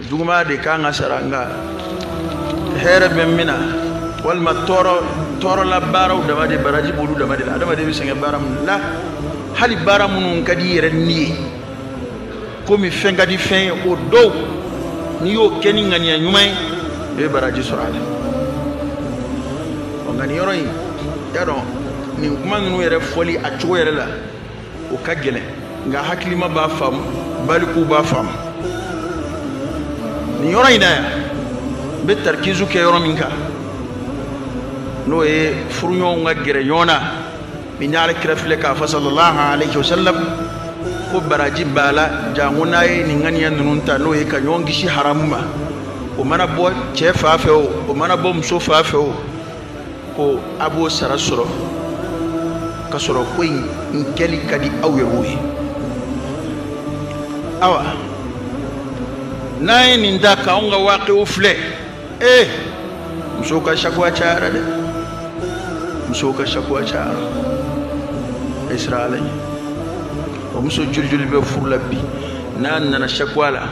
juguman de kan ka sara nka hɛrɛ bɛ min na walima tɔɔrɔ tɔɔrɔla baaraw dama de baraji b'olu dama de la adamaden bɛ sɛgɛn baara minnu la hali baara minnu ka di i yɛrɛ ni ye komi fɛn ka di fɛn ye o dɔw n'i y'o kɛ ni ŋaniya ɲuman ye i bɛ baraji sɔrɔ a la ɔ nka nin yɔrɔ in i y'a dɔn nin kuma ninnu yɛrɛ fɔli a cogo yɛrɛ la o ka gɛlɛn nka hakilima b'a faamu balikuw b'a faamu nin yɔrɔ in na yan n bɛ tarikizu kɛ yɔrɔ min kan n'o ye furuɲɔgɔnw ka gɛrɛ ɲɔgɔn na min ye alakira filɛ k'a fɔ sallallahu alayhi wa sallam ko baraji b'a la janko n'a ye nin ŋaniya ninnu ta n'o ye ka ɲɔgɔn kisi haramu ma o mana bɔ cɛ fan fɛ o o mana bɔ muso fan fɛ o ko a b'o sara sɔrɔ ka sɔrɔ ko in kɛli ka di aw yɛrɛw ye awa n'an ye nin ta k'anw ka waakiu filɛ ee eh, musow ka sakuwa cayara dɛ musow ka sakuwa cayara israɛlɛ o muso jolijoli bɛ furu la bi n'a nana sakuwa la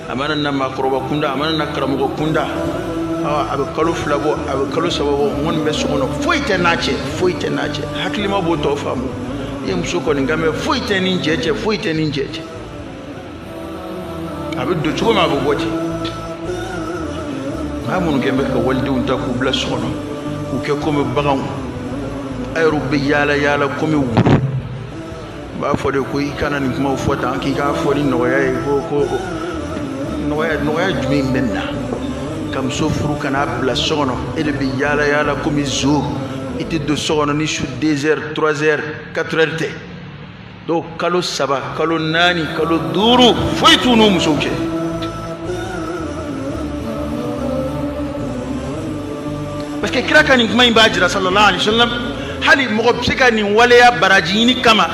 a mana na maakɔrɔba kunda a mana na karamɔgɔ kunda a bɛ kalo fila bɔ a bɛ kalo saba bɔ ko n bɛ so kɔnɔ foyi tɛ n'a cɛ foyi tɛ n'a cɛ hakilima b'o tɔ faamu i ye muso kɔni kan mɛ foyi tɛ n ni n cɛ cɛ foyi tɛ n ni n cɛ cɛ a bɛ don cogo min a bɛ bɔ ten maa minnu kɛlen bɛ ka walidenw ta k'u bila so kɔnɔ k'u kɛ komi baganw a yɛrɛw bɛ yaala yaala komi wulu u b'a fɔ de ko i kana nin kumaw fɔ tan k'i k'a fɔ ni nɔgɔya ye ko ko nɔgɔya nɔgɔya jumɛn bɛ nin na ka muso furu ka n'a bila so kɔnɔ e de bɛ yaala yaala komi zo i tɛ don so kɔnɔ ni su deux heures trois heures quatre heures tɛ dɔw kalo saba kalo naani kalo duuru foyi t'u n'u musow cɛ parce que kira ka nin kuma in b'a jira sallallahu alaihi wa sallam hali mɔgɔ bɛ se ka nin waleya baraji ɲini kama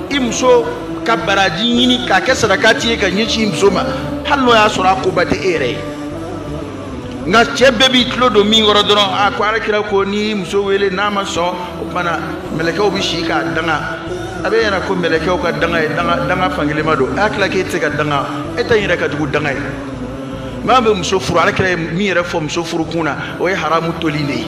i muso ka baraji ɲini k'a kɛ sarakati ye ka ɲɛsin i muso ma hali n'o y'a sɔrɔ a koba tɛ e yɛrɛ ye nka cɛ bɛɛ b'i tulo don min kɔrɔ dɔrɔn a ko alakira ko n'i muso wele n'a ma sɔn o tuma na mɛlɛkɛw bɛ si k'a danga a b'a ɲɛ na ko mɛlɛkɛw ka danga ye danga fankelenma don a hakili la k'e tɛ se ka danga e ta in yɛrɛ ka jugu danga ye maa bɛ muso furu alakira ye min yɛrɛ fɔ muso furukun na o ye haramu toli de ye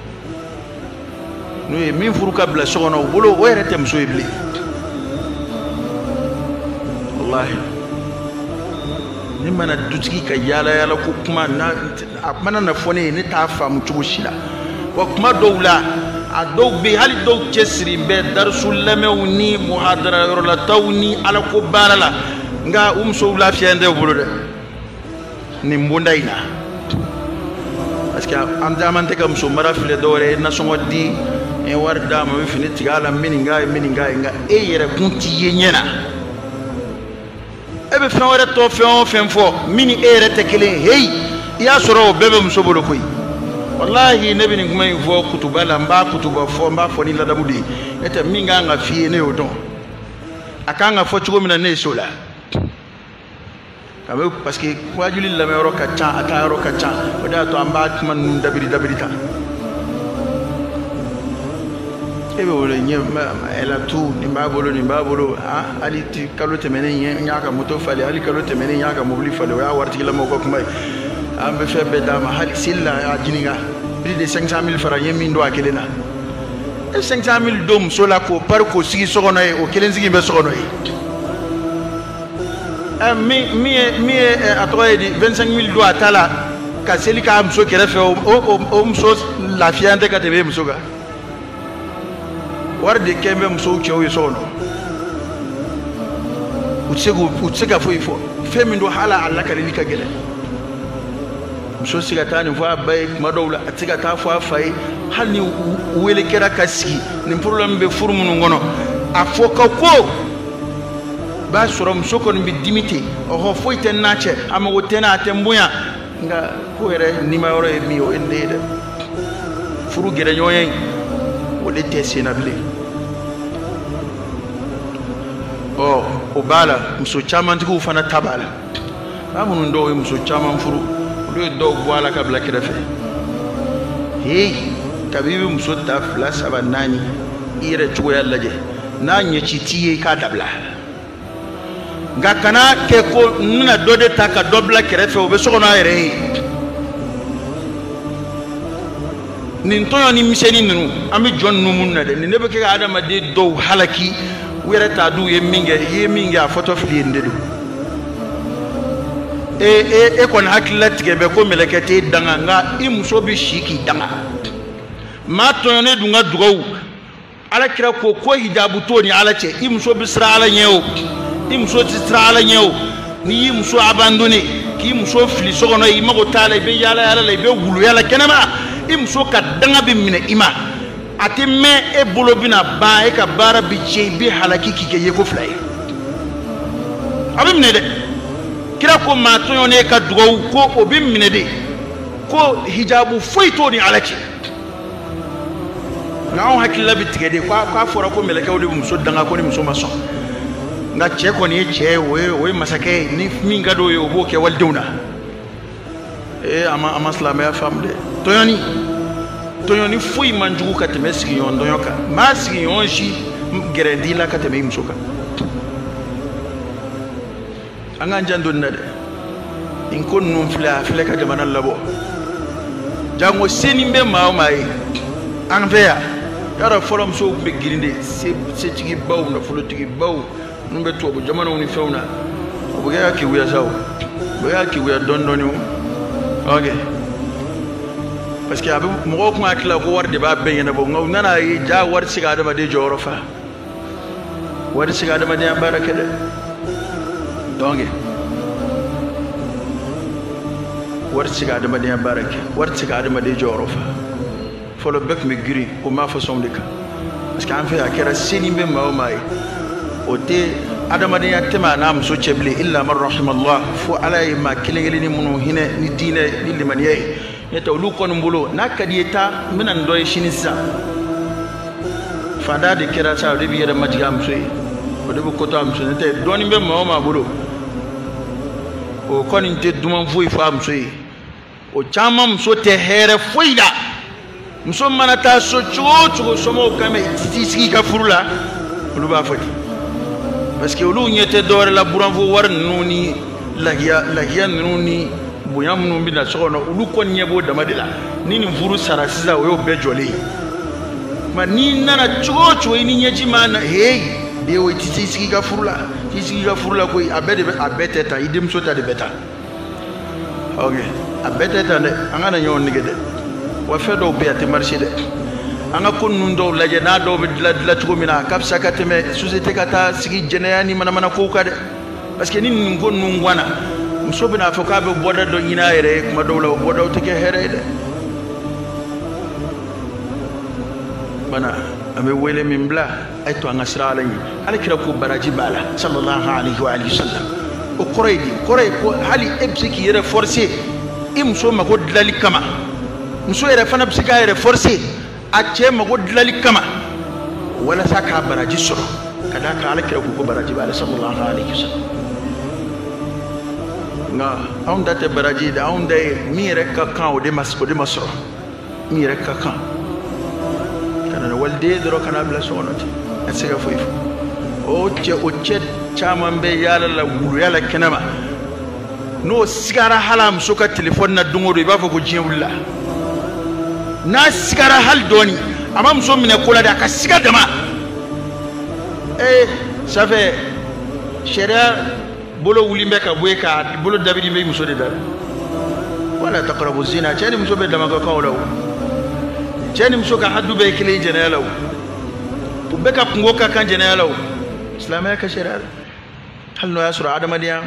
n'u ye min furu ka bila so kɔnɔ u bolo o yɛrɛ tɛ muso ye bilen walahi ne mana dutigi ka yaala yaala ko kuma na a mana na fɔ ne ye ne t'a faamu cogo si la wa kuma dɔw la a dɔw bɛ yen hali dɔw cɛsirilen bɛ darisu lamɛnw ni muhadara yɔrɔlataaw ni alako baara la nka u musow lafiya tɛ u bolo dɛ nin bonda in na parce que an caman tɛ ka muso mara filɛ dɔwɛrɛ ye nasɔngɔ di n ye wari d'a ma n bɛ fini tigɛ a la n bɛ nin k'a ye n bɛ nin k'a ye nka e yɛrɛ kun tɛ ye ɲɛ na e bɛ fɛn wɛrɛ tɔ fɛn o fɛn fɔ min ni e yɛrɛ tɛ kelen ye heyi i y'a sɔrɔ o bɛɛ bɛ muso bolo koyi walahi ne bɛ nin kuma in fɔ kutuba la n b'a kutuba fɔ n b'a fɔ ni ladamu de ye n'o tɛ min kan ka f'i ye ne y'o dɔn a kan ka fɔ cogo min na ne ye so la a bɛ parce que waajuli lamɛnyɔrɔ ka ca a taa yɔrɔ ka ca o de y'a to an b'a kuma ninnu dabiri dabiri ta e bɛ wele ɲɛ ɛlatu nin b'a bolo nin b'a bolo a hali ti kalo tɛmɛnen ɲɛ n y'a ka moto falen hali kalo tɛmɛnen n y'a ka mobili falen o ye waritigilamaw ka kuma ye an bɛ fɛn bɛɛ d'a ma hali seli la a ɲininka plus de 500 000 francs n ye min don a kelen na e 500 000 don muso la k'o pari k'o sigi so kɔnɔ yen o kelen sigi bɛ so kɔnɔ yen Eh, min ye min ye eh, a tɔgɔ ye di 25 mille don a ta la ka seli k'a muso kɛrɛfɛ o muso lafiyan tɛ ka tɛmɛ muso kan wara de kɛn bɛ musow cɛw ye so kɔnɔ u tɛ se k'u u tɛ se ka foyi fɔ fɛn min don hali a lakalili ka gɛlɛn muso tɛ se ka taa nin fɔ a ba ye kuma dɔw la a tɛ se ka taa fɔ a fa ye hali ni u wele kɛra ka sigi nin problème bɛ furu minnu kɔnɔ a fɔ ka ko b'a sɔrɔ muso kɔni bɛ dimi ten ɔhɔ foyi tɛ n n'a cɛ a mago tɛ n na a tɛ n bonya nka ko yɛrɛ nima yɔrɔ ye min ye o ye nin ye dɛ furu gɛrɛɲɔgɔnya in o de tɛ sen na bilen ɔ o b'a la muso camantigiw fana ta b'a la ba minnu dɔw ye muso caman furu olu ye dɔw bɔ a la ka bila kɛrɛfɛ heyi kabi i bɛ muso ta fila saba naani i yɛrɛ cogoya lajɛ n'a ɲɛci t'i ye i k'a dabila nka kana kɛ ko n bɛna dɔ de ta ka dɔ bila kɛrɛfɛ o bɛ so kɔnɔ a yɛrɛ ye nin tɔɲɔni misɛnnin ninnu an bɛ jɔn ninnu minnu na dɛ nin de bɛ kɛ ka adamaden dɔw halaki u yɛrɛ t'a dɔn u ye min kɛ i ye min kɛ a fɔtɔ filɛ i ye nin de don e e e kɔni hakili latigɛ bɛ ko mɛlɛkɛ t'e danga nka i muso bɛ si k'i danga maa tɔɲɔnen dun ka dugawu ala kira ko ko hijabu t'o ni ala cɛ i muso bɛ siran ala ɲɛ o i muso tɛ siran ala ɲɛ o n'i y'i muso abandonné k'i muso fili so kɔnɔ i mago t'a la i bɛ yaala yaala la i bɛ wuluya la kɛnɛma i muso ka danga bɛ minɛ i ma a tɛ mɛɛn e bolo bɛna ban e ka baara bɛ tiɲɛ i bɛ halaki k'i kɛ yeko fila ye a bɛ minɛ dɛ kira ko maa tɔɲɔnen ka dugawu ko o bɛ minɛ de ko hijabu foyi t'o ni ala cɛ nka anw hakilila bɛ tigɛ de k'a fɔra ko mɛlɛkɛw de bɛ muso danga ko ni muso ma sɔn nka cɛ kɔni ye cɛ ye o ye o ye masakɛ ye ni min ka d'o ye o b'o kɛ walidenw na ee a ma a ma silamɛya faamu dɛ tɔɲɔni tɔɲɔni foyi man jugu ka tɛmɛ sigiɲɔgɔn tɔɲɔ kan maa sigiɲɔgɔn si gɛrɛ t'i la ka tɛmɛ i muso kan an k'an janto nin na dɛ nin ko ninnu filɛ a filɛ ka jamana labɔ janko seni bɛ maa o maa ye an fɛ yan yɔrɔ fɔlɔ musow tun bɛ girin de setigibaw nafolotigibaw minnu bɛ tubabu jamanaw ni fɛnw na o bɛ kɛ ka kewuya sa o bɛ kɛ ka kewuya dɔɔni dɔɔni o ok parce que a bɛ mɔgɔw tun hakili la ko wari de b'a bɛɛ ɲɛnabɔ nka u nana ye ja wari tɛ se ka adamaden jɔyɔrɔ fa wari tɛ se ka adamadenya baara kɛ dɛ donc wari tɛ se ka adamadenya baara kɛ wari tɛ se ka adamaden jɔyɔrɔ fa fɔlɔ bɛɛ tun bɛ girin o maa fasɔnw de kan parce que an fɛ a kɛra seni bɛ maa o maa ye o tɛ adamadenya tɛ maa n'a muso cɛ bilen illa man rahimallah fo ala ye maa kelen kelenni minnu hinɛ ni diinɛ ni limaniya ye n'o tɛ olu kɔni bolo n'a ka d'i ye taa n bɛna nin dɔ ye sini sisan faantan de kɛra sa o de b'i yɛrɛ majigin a muso ye o de bɛ ko to a muso ye n'o tɛ dɔɔnin bɛ maa o maa bolo o kɔni tɛ duman foyi fɔ a muso ye o caman muso tɛ hɛrɛ foyi la muso mana taa so cogo o cogo somɔgɔw kan bɛ i t'i sigi i ka furu la olu b'a fɔ ten parce que olu ɲɛ tɛ dɔwɛrɛ la buranfo wari ninnu ni lahiya lahiya ninnu ni bonya minnu bɛ na so kɔnɔ olu kɔni ɲɛ b'o dama de la ni nin furu sara sisan o y'o bɛɛ jɔlen ye nka n'i nana cogo o cogo i ni ɲɛji ma na heyi den o i t'i sigi i ka furu la t'i sigi i ka furu la koyi a bɛɛ de bɛ a bɛɛ tɛ tan i denmuso ta de bɛ tan ok a bɛɛ tɛ tan dɛ an kana ɲɔgɔn nɛgɛn dɛ wa fɛn dɔw bɛ yen a tɛ marcher dɛ an ka ko ninnu dɔw lajɛ n'a dɔw bɛ dilan dilan cogo min na a ka fisa ka tɛmɛ société ka taa sigi jɛnɛya ni manamana kow kan dɛ parce que ni nin ko ninnu ganna muso bɛna fɔ k'a bɛ bɔda dɔ ɲini a yɛrɛ ye kuma dɔw la o bɔdaw tɛ kɛ hɛrɛ ye dɛ bana an bɛ wele min bila a ye to an ka siran ala ɲɛ ala kira ko baraji b'a la sallallahu alaihi wa sallam o kɔrɔ ye di kɔrɔ ye ko hali e bɛ se k'i yɛrɛ forcer i muso mago dilanni kama muso yɛrɛ fana bɛ se k'a yɛrɛ forcer a cɛ mago dilanni kama walasa k'a baraji sɔrɔ ka d'a kan ala kira ko ko baraji b'a la sallallahu alaihi wa sallam nka anw ta tɛ baraji ye dɛ anw ta ye min yɛrɛ ka kan o de ma o de ma sɔrɔ n yɛrɛ ka kan ka na ni waliden dɔrɔn ka na bila so kɔnɔ ten a tɛ se ka foyi fɔ o cɛ o cɛ caman bɛ yaala la wuluya la kɛnɛma n'o sigara hali a muso ka telefɔni na don o don i b'a fɔ ko diɲɛ wulila n'a sigara hali dɔɔni a ma muso minɛ ko la dɛ a ka siga dama ee ça fait sariya bolo wulilen bɛ ka bɔ yen ka bolo dabiri bɛ muso de da wala taqrabu zina cɛ ni muso bɛɛ dama ka kan o la o cɛ ni muso ka hadu bɛɛ ye kelen ye jɛnɛya la o u bɛɛ ka kunko ka kan jɛnɛya la o silamɛya ka sariya la hali n'o y'a sɔrɔ adamadenya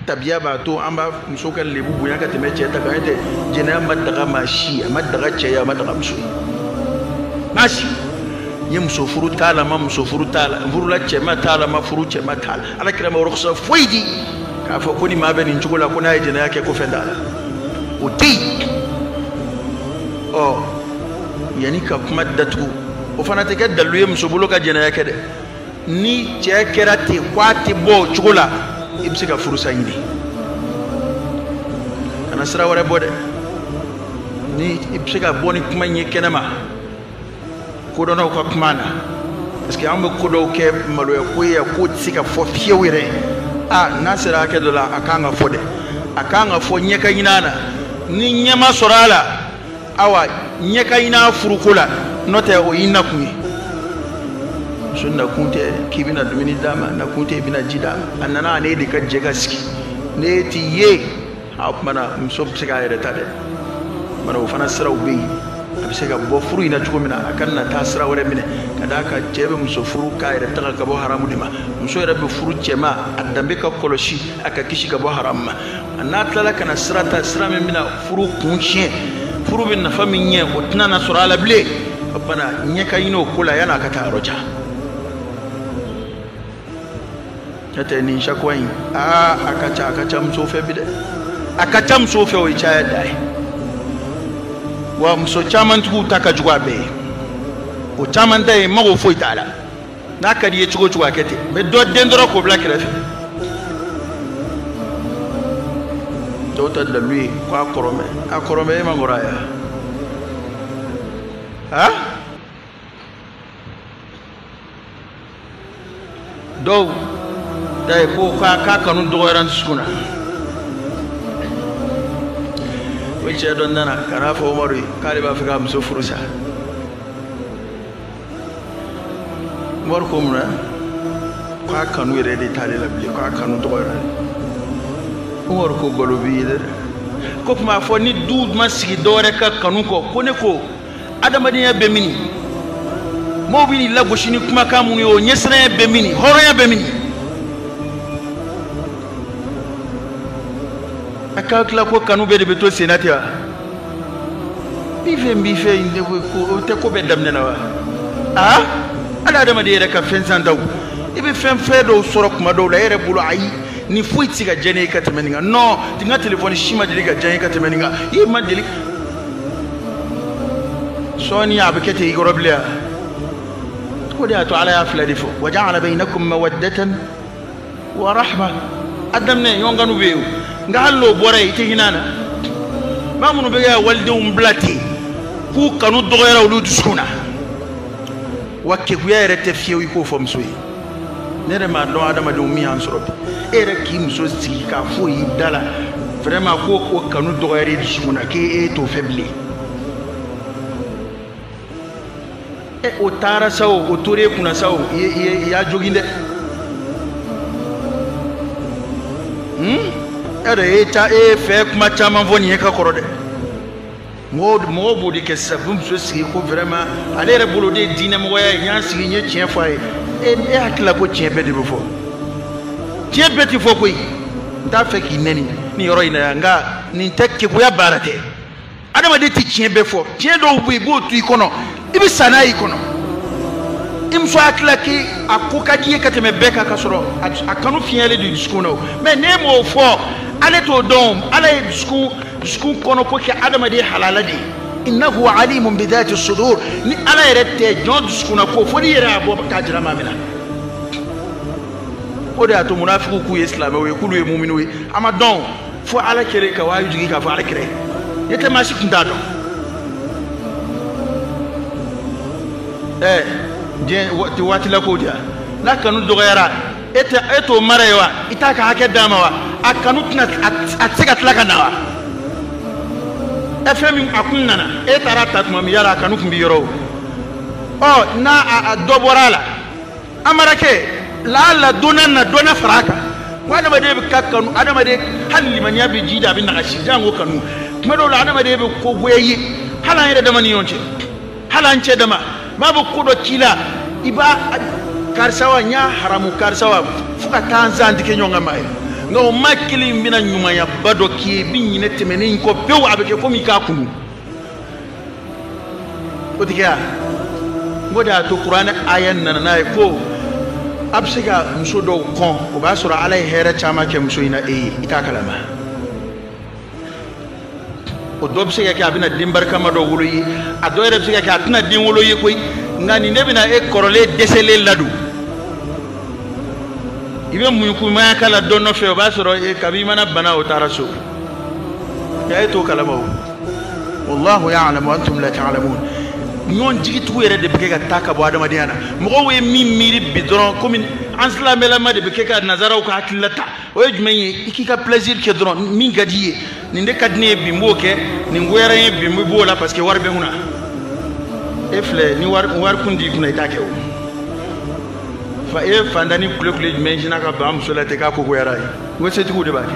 tabiya b'a to an b'a muso ka lebu bonya ka tɛmɛ cɛ ta kan n'o tɛ jɛnɛya ma daga maa si a ma daga cɛ ye a ma daga muso ye maa si n ye muso furu t'a la n ma muso furu t'a la n furula cɛ ma t'a la n ma furu cɛ ma t'a la ala kira ma rukhsa foyi di k'a fɔ ko ni maa bɛ nin cogo la ko n'a ye jɛnɛya kɛ ko fɛn t'a la o tɛ yen ɔ yanni ka kuma datugu o fana tɛ kɛ dalu ye muso bolo ka jɛnɛya kɛ dɛ ni cɛ kɛra ten ko a tɛ bɔ o cogo la i bɛ se ka furusa ɲini kana sira wɛrɛ bɔ dɛ ni i bɛ se ka bɔ ni kuma in ye kɛnɛma kodɔnnaw ka kuma na parce que an bɛ ko dɔw kɛ maloya ko ye k'o tɛ se ka fɔ fiyewu yɛrɛ a n'a sera hakɛ dɔ la a kan ka fɔ dɛ a kan ka fɔ ɲɛ ka ɲin'a la ni ɲɛ ma sɔrɔ a la awa ɲɛ ka ɲin'a furuko la n'o tɛ o y'i nakun ye muso nakun tɛ k'i bɛna dumuni d'a ma nakun tɛ i bɛna ji d'a ma a nana a n'e de ka jɛ ka sigi ne t'i ye o tuma na muso bɛ se k'a yɛrɛ ta dɛ o tuma na o fana siraw bɛ yen a bɛ se ka bɔ furu in na cogo min na a kana taa sira wɛrɛ minɛ ka d'a kan cɛ bɛ muso furu k'a yɛrɛ tanga ka bɔ haramu de ma muso yɛrɛ bɛ furu cɛ ma a danbe ka kɔlɔsi a ka kisi ka bɔ haramu ma a n'a tilala ka na sira ta sira min bɛna furu kun tiɲɛ furu bɛ nafa min ɲɛ o tɛna na sɔrɔ a la bilen o tuma na ɲɛ ka ɲin'o ko la yan'a ka taa yɔrɔ jan n'o tɛ nin shakwa in aa a ka ca a ka ca musow fɛ bi dɛ a ka ca musow fɛ o ye caya da ye wa muso caman tigiw ta ka jugu a bɛɛ ye o caman ta ye mago foyi t'a la n'a ka di i ye cogo o cogo a kɛ ten mais dɔ den dɔrɔn k'o bila kɛrɛfɛ dɔw ta dalu ye ko a kɔrɔlen bɛ a kɔrɔlen bɛ e ma kɔrɔ a ye ha dɔw ta ye ko k'a k'a kanu dɔgɔyara n dusukun na o cɛ dɔ nana ka n'a fɔ umaru ye k'ale b'a fɛ k'a muso furu sa umaru ko mun na k'a kanu yɛrɛ de t'ale la bilen k'a kanu dɔgɔyara umaru ko galo b'i ye dɛ ko kuma fɔ ni du ma sigi dɔwɛrɛ kan kanu kɔ ko ne ko adamadenya bɛ mini mɔgɔw bɛ n'i lagosi ni kumakan minnu ye o ɲɛsiranya bɛ mini hɔrɔnya bɛ mini a ka tila ko kanu bɛɛ de bɛ to senna ten wa b'i fɛ n b'i fɛ in tɛ ko o tɛ ko bɛɛ daminɛ na wa aa hali adamaden yɛrɛ ka fɛn santaw i bɛ fɛn fɛn dɔw sɔrɔ kuma dɔw la e yɛrɛ bolo ayi ni foyi tɛ se ka diya ne ye ka tɛmɛ nin kan non n ka telefɔni si ma deli ka diya n ye ka tɛmɛ nin kan i ma deli sɔɔni a bɛ kɛ ten i kɔrɔ bilen wa o de y'a to ala y'a fila de fɔ wa ja'ala bainakum mawaddatan wa rahma a daminɛ ɲɔgɔn kanu bɛ yen o nka hali n'o bɔra yen i tɛ hinɛ a la maa minnu bɛ kɛ ka walidenw bila ten k'u kanu dɔgɔyara olu dusukun na wa kekuya yɛrɛ tɛ fiyewu i k'o fɔ muso ye ne yɛrɛ m'a dɔn adamadenw min y'an sɔrɔ bi e yɛrɛ k'i muso sigi k'a fɔ i da la vraiment ko o kanu dɔgɔyara i dusukun na k'e e t'o fɛ bilen e o taara sa o o tora e kunna sa o i i y'a jogin dɛ hmm? e yɛrɛ e ta e fɛ kuma caman fɔ nin ye ka kɔrɔ dɛ mɔgɔw mɔgɔw b'o de kɛ sisan u bɛ muso sigi ko vraiment ale yɛrɛ bolo o de ye diinɛmɔgɔya ye n y'a sigi n ye tiɲɛ fɔ a ye e e hakili la ko tiɲɛ bɛɛ de bɛ fɔ tiɲɛ bɛɛ tɛ fɔ koyi n t'a fɛ k'i nɛni nin yɔrɔ in na yan nka nin tɛ keguya baara tɛ adamaden tɛ tiɲɛ bɛɛ fɔ tiɲɛ dɔw bɛ yen i b'o to i kɔnɔ i bɛ sa n'a y'i kɔnɔ i muso hakili la k'i a ko ka di i ye ka tɛmɛ bɛɛ kan ka sɔrɔ a a kanu fiɲɛyalen don i dusukun na o mais n'e m'o fɔ ale t'o dɔn o. ala ye dusukun dusukun kɔnɔ ko kɛ adamaden halala de ye innahu alimun bi dhati sudur ni ala yɛrɛ tɛ jɔn dusukunna ko fo n'i yɛrɛ y'a bɔ k'a jira maa min na o de y'a to munafigiw k'u ye silamɛw ye k'olu ye muminiw ye a ma dɔn fo ala kɛlen ka wahyu jigin k'a fɔ ala kira ye n'o tɛ maa si tun t'a dɔn ɛɛ diɲɛ waati la kow de la n'a kanu dɔgɔyara e tɛ e t'o mara yen wa i t'a ka hakɛ d'a ma wa a kanu tɛna a tɛ se ka tila ka na wa ɛ fɛn min a kun nana e taara a ta tuma min yala a kanu tun bɛ yɔrɔ o ɔ n'a a dɔ bɔra a la a mara kɛ laala dɔ na na dɔ na fara a kan ko adamaden bɛ ka kanu adamaden hali limaniya bɛ jiidi a bɛ nagasi janko kanu tuma dɔw la adamaden bɛ ko goya i ye hali an yɛrɛ dama ni ɲɔgɔn cɛ hali an cɛ dama maa bɛ ko dɔ k'i la i b'a karisa wa n y'a haramu karisa wa fo ka taa an sen tigɛ ɲɔgɔn kan maa ye nka o maa kelen in bɛna ɲumanyaba dɔ k'i ye i bɛ ɲinɛ tɛmɛnen in kɔ pewu a bɛ kɛ komi i k'a kunu o tɛ kɛ wa n ko de y'a to kuranɛ aya nana n'a ye ko a bɛ se ka muso dɔw kɔn o b'a sɔrɔ ala ye hɛrɛ caman kɛ muso in na e ye i t'a kalama o dɔ bɛ se ka kɛ a bɛna den barikama dɔ wolo i ye a dɔ yɛrɛ bɛ se ka kɛ a tɛna den wolo i ye koyi nka nin de bɛna e kɔrɔlen dɛsɛlen ladon i bɛ munkunmaya k'a la dɔ nɔfɛ o b'a sɔrɔ e kabi i mana bana o taara so nka e t'o kalama o wallahu ya'lamu antum la ta'lamun ɲɔgɔn jigitugu yɛrɛ de bɛ kɛ ka taa ka bɔ adamadenya na mɔgɔw ye min miiri bi dɔrɔn komi an silamɛlama de bɛ kɛ ka nazaraw ka hakilila ta o ye jumɛn ye i k'i ka plaisir kɛ dɔrɔn min ka di ye nin de ka di ne ye bi n b'o kɛ nin goyara n ye bi n b'o la parce que wari bɛ n kunna e filɛ ni wari kun t'i kunna i t'a kɛ o fa e fantannin kule kule jumɛn sinna ka ban muso la ten k'a ko goyar'i ye n ko setigiw de b'a kɛ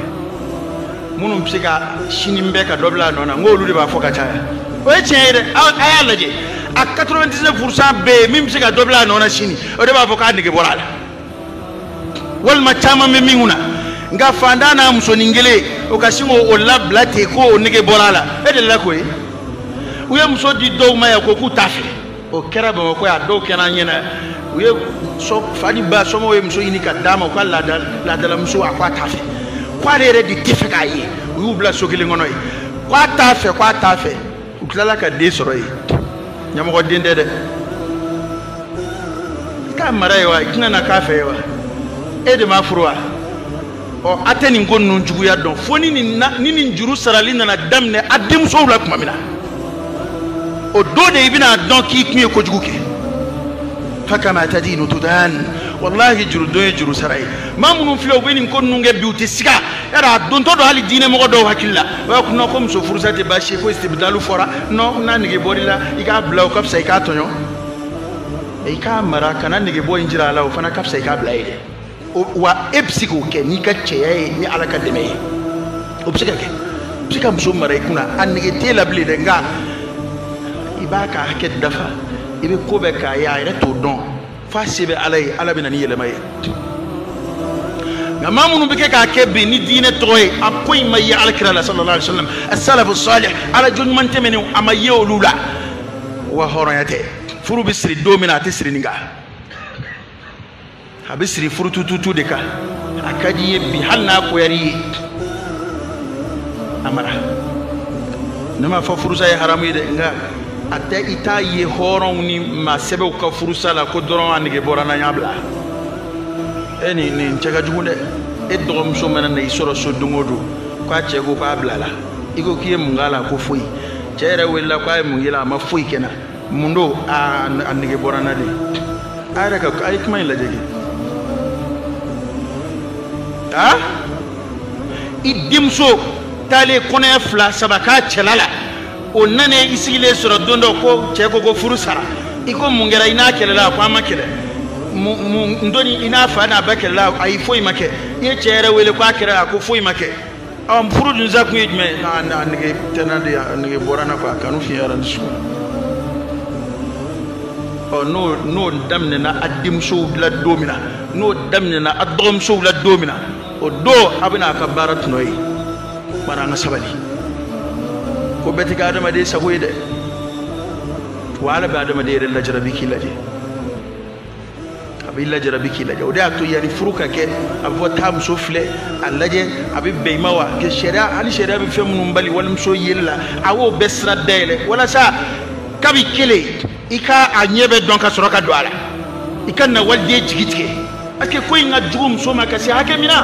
minnu bɛ se ka sini bɛɛ ka dɔ bila a nɔ na n ko olu de b'a fɔ ka caya o ye tiɲɛ ye dɛ a y'a lajɛ a 99 pourcent bɛ yen min bɛ se ka dɔ bila a nɔ na sini o de b'a fɔ k'a nege bɔra a la walima caman bɛ min kunna nka fantan n'a musonin kelen o ka sin k'o labila ten ko o nege bɔra a la e delila k'o ye u ye muso di dɔw ma yan ko k'u t'a fɛ o kɛra bamakɔ yan dɔw kɛra an ɲɛna u ye fa ni ba somɔgɔw ye muso ɲini ka d'a ma u ka laadalamuso a ko a t'a fɛ ko ale yɛrɛ de t'a fɛ k'a ye u y'u bila so kelen kɔnɔ yen ko a t'a fɛ ko a t'a fɛ u tilala ka den sɔrɔ yen ɲamɔgɔden tɛ dɛ i k'a mara yen wa i tɛna na k'a fɛ ye wa e de m'a furu wa ɔ a tɛ nin ko ninnu juguya dɔn fo ni nin juru sarali nana daminɛ a denmusow la kuma min na o don de i bɛna a dɔn k'i kun ye kojugu kɛ fa kama tadinu tudan walahi jurudon ye juru sara ye maa minnu filɛ u bɛ nin ko ninnu kɛ bi u tɛ siga yɛrɛ a dontɔ don hali diinɛmɔgɔ dɔw hakili la o y'a kɔnɔ ko muso furusa tɛ baasi ye ko istibdalu fɔra nɔ n'a nege bɔr'i la i k'a bila o ka fisa i k'a tɔɲɔ i k'a mara kana negebɔ in jira a la o fana ka fisa i k'a bila ye dɛ wa e bɛ se k'o kɛ n'i ka cɛya ye ni ala ka dɛmɛ ye o bɛ se ka kɛ i bɛ se ka muso mara i kunna a nege t'e la bilen dɛ nka i b'a ka hakɛ dafa i bɛ ko bɛɛ k'a ye a yɛrɛ t'o dɔn fa se bɛ ala ye ala bɛ na ni yɛlɛma ye nka maa minnu bɛ kɛ k'a kɛ bi ni diinɛ tɔgɔ ye a foyi ma ye ala kira la sallallahu alaihi wasallam asalafu salih ala jɔn ɲuman tɛmɛnenw a ma ye olu la wa hɔrɔnya tɛ furu bɛ siri don min na a tɛ siri nin kan a bɛ siri furutututu de kan a ka di ye bi hali n'a goyar'i ye a mara ne m'a fɔ furusa ye haramu ye dɛ nka a tɛ i t'a ye hɔrɔnw ni maa sɛbɛw ka furusa la ko dɔrɔn a nege bɔra n na n y'a bila e nin nin cɛ ka jugu dɛ e dɔgɔmuso mana na i sɔrɔ so don o don k'a cɛ ko k'a bilala i ko k'i ye mun k'a la ko foyi cɛ yɛrɛ welela k'a ye mun k'i la a ma foyi kɛ n na mun don a a nege bɔra n na de a yɛrɛ ka a ye kuma in lajɛ kɛ a i denmuso taalen kɔnɔya fila saba k'a cɛla la o nana i sigilen sɔrɔ don dɔ ko cɛ ko ko furu sara i ko mun kɛra i n'a kɛlɛla a ko an ma kɛlɛ n doni i n'a fa n'a ba kɛlɛla ayi foyi ma kɛ i ye cɛ yɛrɛ wele ko a kɛlɛla a ko foyi ma kɛ an furu dun sa kun ye jumɛn ye a nege tɛ n na de a nege bɔra n na quoi kanu fiɲɛyara nin sugu ɔ n'o n'o daminɛna a denmusow la don min na n'o daminɛna a dɔgɔmusow la don min na o don a bɛna a ka baara tɔnɔ ye bari an ka sabali ko bɛɛ tɛ kɛ adamaden sago ye dɛ wa ala bɛ adamaden yɛrɛ lajarabi k'i lajɛ a b'i lajarabi k'i lajɛ o de y'a to yanni furu ka kɛ a bɛ fɔ taa muso filɛ a lajɛ a bɛ bɛn i ma wa kɛ sariya hali sariya bɛ fɛn minnu bali walimuso yeli la a y'o bɛɛ sira dayɛlɛ walasa kabi kelen i ka a ɲɛ bɛɛ dɔn ka sɔrɔ ka don a la i kana waliden jigi tigɛ parce que ko in ka jugu muso ma ka se hakɛ min na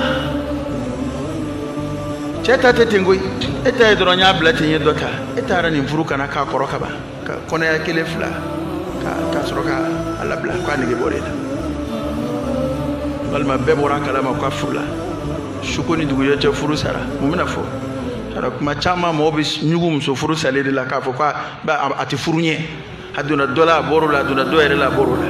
cɛ ta tɛ ten koyi e ta ye dɔrɔn n y'a bila ten n ye dɔ ta e taara nin furu ka na k'a kɔrɔ kaban ka kɔnɔya kelen fila ka sɔrɔ ka a labila k'a nege bɔr'e la walima bɛɛ bɔra a kalama k'a furula suko ni dugujɛ cɛ furu sara mun bɛna fɔ sa kuma caman mɔgɔ bɛ ɲugu muso furu salen de la k'a fɔ ko a tɛ furu ɲɛ a donna dɔ la a bɔr'o la a donna dɔ yɛrɛ la a bɔr'o la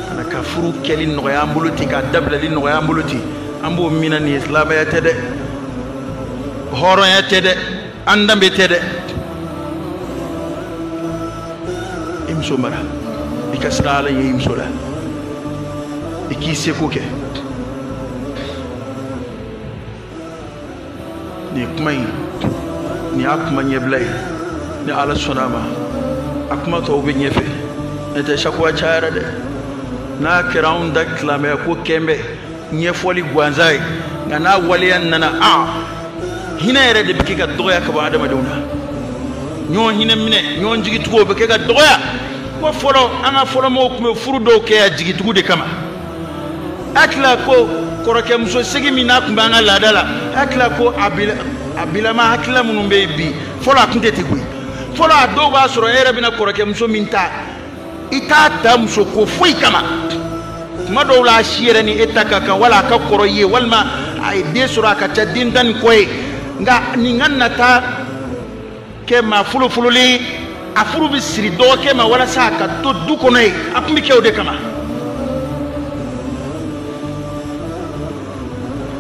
ka na ka furu kɛli nɔgɔya an bolo ten k'a dabilali nɔgɔya an bolo ten an b'o min na nin ye silamɛya tɛ dɛ hɔrɔnya tɛ dɛ an danbe tɛ dɛ i muso mara i ka siran ala ɲɛ i muso la i k'i seko kɛ nin kuma in nin y'a kuma ɲɛbila ye ni ala sɔnna a ma a kuma tɔw bɛ ɲɛfɛ ne tɛ sakuwa cayara dɛ n'a kɛra anw da tilamɛ ko k'an bɛ ɲɛfɔli gansan ye nka n'a waleya nana a hinɛ yɛrɛ de bɛ kɛ ka dɔgɔya ka bɔ adamadenw na ɲɔgɔn hinɛ minɛ ɲɔgɔn jigitugu o bɛ kɛ ka dɔgɔya ko fɔlɔ an ka fɔlɔmɔgɔw tun bɛ furu dɔw kɛ yan jigitugu de kama hakili la ko kɔrɔkɛmuso sigi min n'a tun b'an ka laada la hakili la ko a bilama hakilila minnu bɛ yen bi fɔlɔ a tun tɛ ten koyi fɔlɔ a dɔw b'a sɔrɔ e yɛrɛ bɛna kɔrɔkɛmuso min ta i t'a ta muso ko foyi kama tuma dɔw la a si yɛrɛ ni e ta ka kan wala a ka kɔrɔ i ye walima a ye den sɔrɔ a ka ca den tan ni kɔ ye nka nin ka na taa kɛ maa fɔlɔfɔlɔ la a furu bɛ siri dɔgɔkɛ ma walasa a ka to du kɔnɔ yen a tun bɛ kɛ o de kama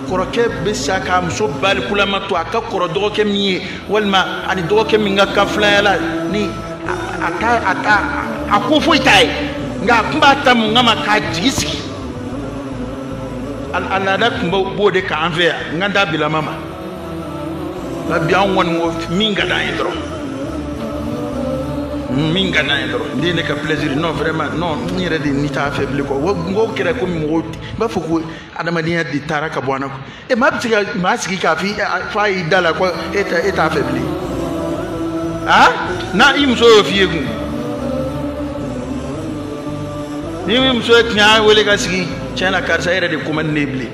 kɔrɔkɛ bɛ sa k'a muso balikulama to a ka kɔrɔ dɔgɔkɛ min ye walima a ni dɔgɔkɛ min ka kan filanya la ni a t'a a t'a a ko foyi t'a ye nka a tun b'a ta mun kama k'a jigi sigi a laada tun b'o de kan an fɛ yan nka an ta bilama ma nka bi an kɔni ko min ka d'an ye dɔrɔn min ka d'an ye dɔrɔn de ye ne ka plaisir non vraiment non n yɛrɛ de ni t'a fɛ bilen quoi n ko kɛra komi mɔgɔw b'a fɔ ko adamadenya de taara ka bɔ an na quoi e maa bɛ se ka maa sigi k'a f'i fa y'i da la ko e t'a e t'a fɛ bilen ah n'a i muso y'o f'i ye kun ni muso ye cɛ wele k'a sigi tiɲɛ na karisa e yɛrɛ de ko man di ne ye bilen